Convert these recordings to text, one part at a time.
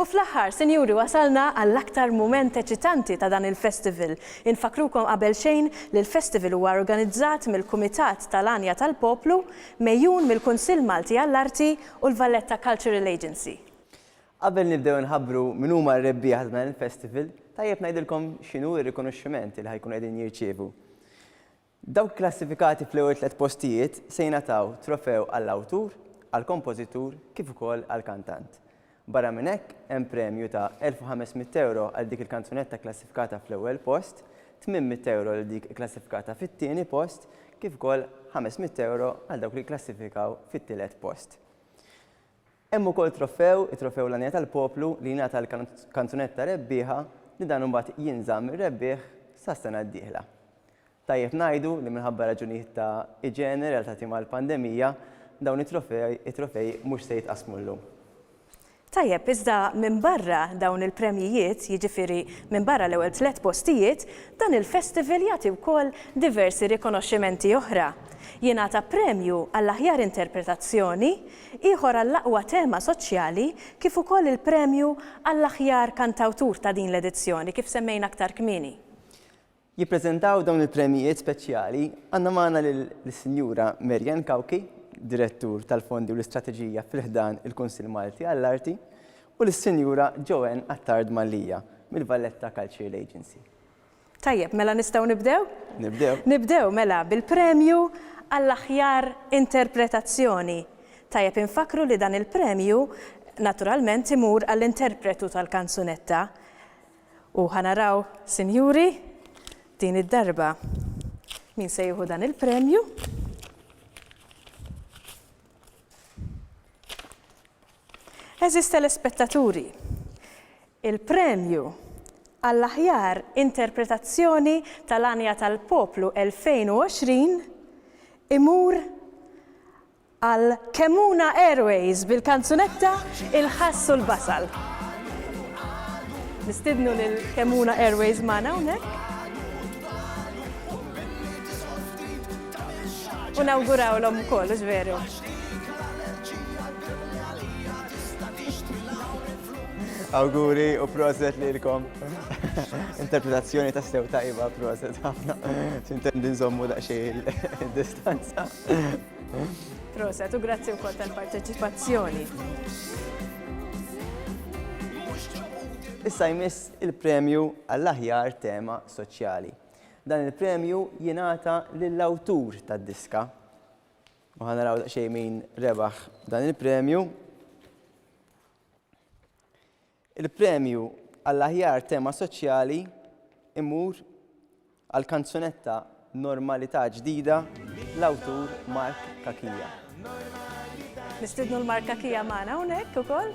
U fl-aħħar, sinjuri wasalna għall-aktar mument eċitanti ta' dan il-festival. Infakkrukom qabel xejn li l-festival huwa organizzat mill-Kumitat tal-Għanja tal-Poplu, megħjun mill-Kunsill Malti għall-Arti u l-Valletta Cultural Agency. Qabel nibdew inħabbru min huma r-rebbieħa ta' dan il-festival, tajjeb ngħidilkom x'inhu r-rikonoxximent li ħa jkunu qegħdin jirċievu. Dawk klassifikati fl-ewwel tliet postijiet se jingħataw trofew għall-awtur, għall-kompożitur kif ukoll għall-kantant. Barra minn hekk, hemm premju ta' 1,500 ewro għal dik il-kanzunetta kklassifikata fl-ewwel post, 800 ewro lil dik ikklassifikata fit-tieni post kif ukoll 500 ewro għal dawk li jikklassifikaw fit-tielet post. Hemm ukoll trofew, it-Trofew L-Għanija tal-Poplu, li jingħata l-kanzunetta rebbieħa li dan imbagħad jinżamm ir-rebbieħ sas-sena d-dieħla. Tajjeb ngħidu li minħabba raġunijiet ta' iġene relatati mal-pandemija, dawn it-trofej it-trofej mhux se jitqassmu llum. Tajjeb, iżda minbarra dawn il-premjijiet, jiġifieri minbarra l-ewwel tliet postijiet, dan il-festival jagħti wkoll diversi rikonoxximenti oħra. Jingħata premju għall-aħjar interpretazzjoni, Ieħor għall-aqwa tema soċjali kif ukoll il-premju għall-aħjar kantawtur ta' din l-edizzjoni, kif semmejna aktar kmieni. Jippreżentaw dawn il-premjijiet speċjali għandna magħna lis-Sinjura Mary Ann Cauchi, Direttur tal-Fondi u l-Istrateġija fi ħdan il-Kunsill Malti għall-Arti, u lis-Sinjura Joanne Attard Mallia mill-Valletta Cultural Agency. Tajjeb, mela nistgħu nibdew? Nibdew. Nibdew mela bil-premju għall-aħjar interpretazzjoni. Tajjeb infakkru li dan il-premju naturalment imur għall-interpretu tal-kanzunetta. U ħa naraw, sinjuri, din id-darba min se jieħu dan il-premju. Għeżież telespettaturi, il-premju għall-aħjar interpretazzjoni tal-għanja tal-poplu 2020 imur għal Kemmuna Airways bil-kanzunetta Il-Ħass u l-Basal. Nistidnu lil Kemmuna Airways magħna hawnhekk. U nawgurawlhom ukoll, hux veru? Awguri u proset li l-kom. Interpretazzjoni ta' sew tajba, proset ħafna. Sintendi nżommu daqxie il-distanza. Proset u grazzi u kol tal-parteċipazzjoni. Issa jmiss il-premju għall-aħjar tema soċjali. Dan il-premju jingħata lill-awtur tad-diska. U ħa naraw daqsxejn min rebaħ dan il-premju. Il-premju għall-aħjar tema soċjali imur għal kanzunetta Normalità Ġdida l-awtur Mark Kakija. Nistidnu l-Mark Kakija magħna hawnhekk ukoll.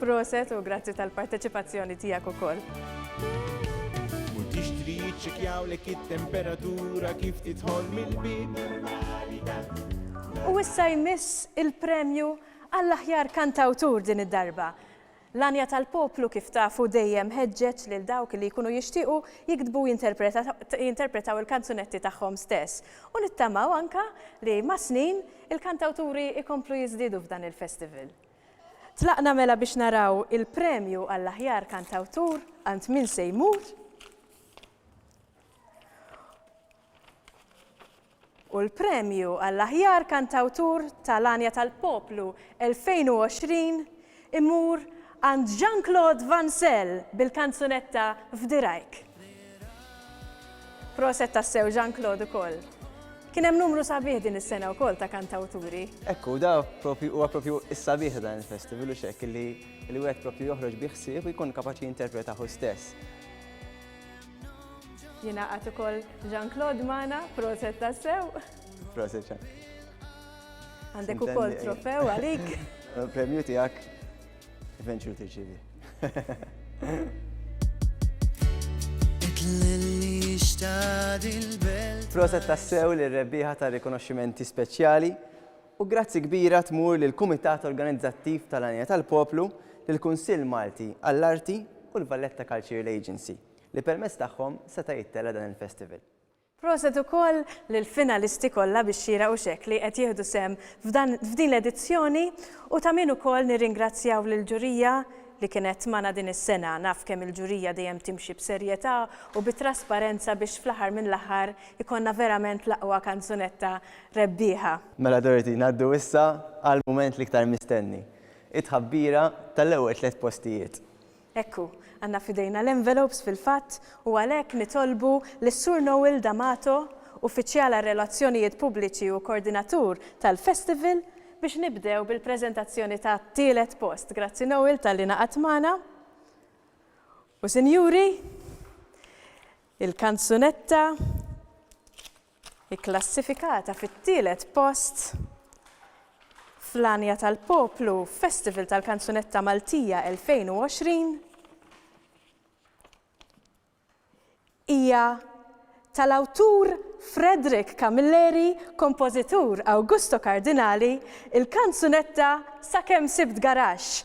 Proset u grazzi tal-parteċipazzjoni tiegħek ukoll. U tixtri jiċċekjawlek it-temperatura kif tidħol mill-bib. U issa jmiss il-premju għall-aħjar kantawtur din id-darba. L-għanja tal-poplu kif tafu dejjem ħeġġeġ lil dawk li jkunu jixtiequ jiktbu u jinterpretaw il-kanzunetti tagħhom stess. U nittamaw anka li mas-snin il-kantawturi jkomplu jiżdiedu f'dan il-festival. Tlaqna mela biex naraw il-premju għall-aħjar kantawtur għand min se jmur. U l-premju għall-aħjar kantawtur tal-għanja tal-poplu 2020 imur għand Jean-Claude Van Sell bil-kanzunetta F'dirajk. Proset tassew Jean Claude ukoll. Kien hemm numru sabiħ din is-sena wkoll ta' kantawturi. Ekku, da propju huwa propju is-sabiħ ta' dan il-festival u xek li li wieħed propju joħroġ bi ħsieb u jkun kapaċi jinterpreta hu stess. Jiena qatt ukoll Jean Claude Mana, proset tassew. Proset Jean. Għandek ukoll trofew għalik. Premju tiegħek. Eventually tirċievi. Proset tassew li rebbieħa ta' rikonoxximenti speċjali u grazzi kbira tmur lil kumitat organizzattiv tal-Anja tal-Poplu lil kunsill Malti għall-Arti u l-Valletta Cultural Agency li permezz tagħhom seta' jittela' dan il-festival. Proset ukoll lil finalisti kollha bix-xieraq u x'hekk li qed jieħdu sehem f'din l-edizzjoni u ta' min ukoll nirringrazzjaw lill-ġurija li kienet magħna din is-sena. Naf kemm il-ġurija dejjem timxi b'serjetà u bi trasparenza biex fl-aħħar mill-aħħar ikollna verament l-aqwa kanzunetta rebbieħa. Mela Dorothy, ngħaddu issa għall-mument l-iktar mistenni, it-tħabbira tal-ewwel tliet postijiet. Hekk hu, għandna f'idejna l-envelopes fil-fatt u għalhekk nitolbu lis-Sur Noel D'Amato, Uffiċjal għar-Relazzjonijiet Pubbliċi u Kordinatur tal-Festival, biex nibdew bil-preżentazzjoni tat-tielet post. Grazzi Noel talli ngħaqadt magħna. U sinjuri, il-kanzunetta Ikklassifikata fit-tielet post fl-għanja tal-poplu f'Festival tal-Kanzunetta Maltija 2020 hija tal-awtur Frederick Camilleri, kompożitur Augusto Cardinali, il-kanzunetta Sakemm Sibt Garaxx,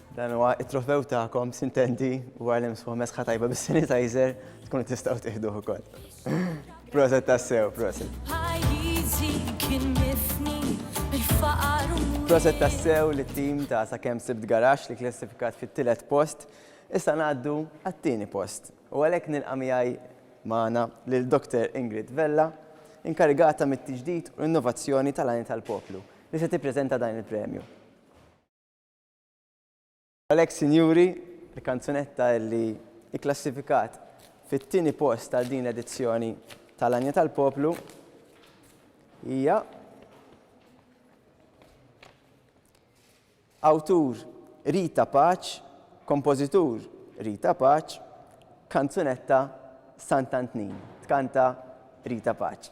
Dan huwa t-trofew tagħkom, sintendi, wara li msfuħ mesħa tajba bis-sanitizer, tkunu tistgħu tieħduh ukoll. Proset tassew, proset. Proset tassew li tim ta' sa' kem sibt garax li klassifikat fit tilet post, issa ngħaddu għat-tieni post. U għalhekk nilqa' miegħi magħna lil Dr. Ingrid Vella, inkarigata mit-tiġdid u l-innovazzjoni tal-għajn tal-poplu, li se tippreżenta dan il-premju. Għalhekk sinjuri, il-kanzunetta li kklassifikat fit-tieni post għal din l-edizzjoni tal-Għanja tal-Poplu hija awtur Rita Paċ, kompożitur Rita Paċ, kanzunetta Sant'Antnin, tkanta Rita Paċ.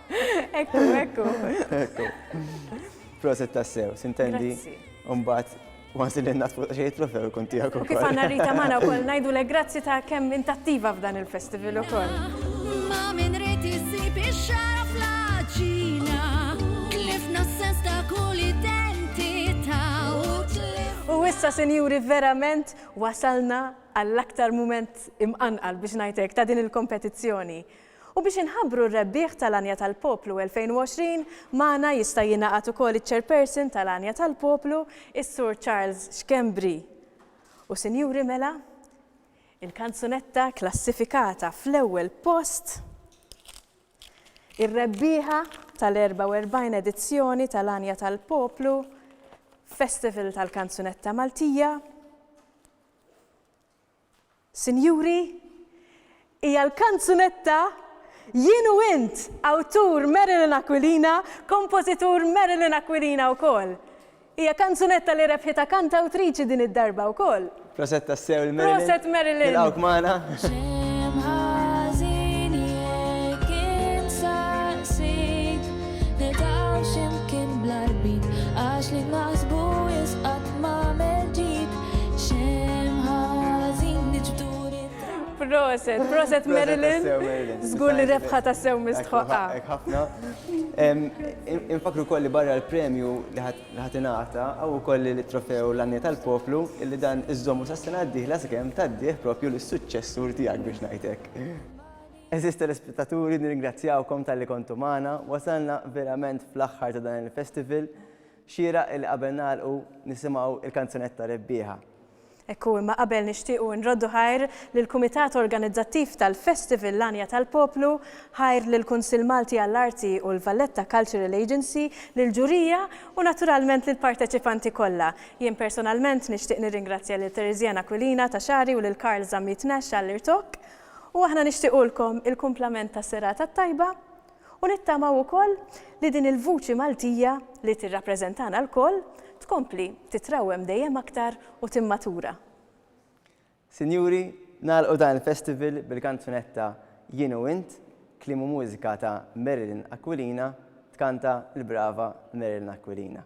Ekku, ekku. Ekku. Proset tassew, sintendi. Umbat, għansi li n-nas fuq xejt trofew ikun tijak u Kif għanna rita maħna u koll najdu le grazzi ta' kem intattiva f'dan il-festival u koll. Ma minn riti sib il-xara fl-ġina, tlifna s-sens ta' kull identita u tlifna. U issa, senjuri, verament wasalna għall-aktar moment imqanqal biex najtek ta' din il-kompetizzjoni. U biex inħabbru r-rebbieħ tal-għanja tal-poplu 2020, magħna jista' jingħaqad ukoll iċ-Chairperson tal-għanja tal-poplu, is-Sur Charles Schembri. U sinjuri mela, il-kanzunetta klassifikata fl-ewwel post, ir-rebbieħa tal-44 edizzjoni tal-għanja tal-poplu, Festival tal-Kanzunetta Maltija, Sinjuri, hija l-kanzunetta Jien u Int, awtur Marilyn Aquilina, kompożitur Marilyn Aquilina wkoll. Hija kanzunetta li rebħitha kantawtriċi din id-darba wkoll. Proset tassew lil Marilyn. Proset Marilyn. Nilqgħuk magħna. Proset, proset Marilyn. Zgur li rebħa ta' sew mistħoqqa. ħafna. Infakru kolli barra l-premju li ħatinata, għaw u kolli li trofew l-għanni tal-poplu, illi dan iżżommu sa' sena d-dihla s-kem ta' d-dih propju l-successur tijak biex najtek. Eżis telespettaturi, nirringrazzjawkom tal-li kontu maħna, wasalna verament fl-axħar ta' dan il-festival, Xieraq illi qabel nagħlqu nisimgħu l-kanzunetta rebbieħa. Hekk hu imma qabel nixtiequ nroddu ħajr lill-Kumitat Organizzattiv tal-Festival L-Għanja tal-Poplu, ħajr lill-Kunsill Malti għall-Arti u l-Valletta Cultural Agency, lill-ġurija u naturalment lill-parteċipanti kollha. Jien personalment nixtieq nirringrazzja lil Theresianne Aquilina ta' Xagħri u lil Karl Zammit Nash għall-irtokk. U aħna nixtiequlkom il-kumplament ta' serata t-tajba U nittamaw ukoll li din il-vuċi Maltija li tirrappreżentana lkoll tkompli titrawwem dejjem aktar u timmatura. Sinjuri, nagħlqu dan il-festival bil-kanzunetta Jien u Int, kliem u mużika ta' Marilyn Aquilina, tkanta l-brava Marilyn Aquilina.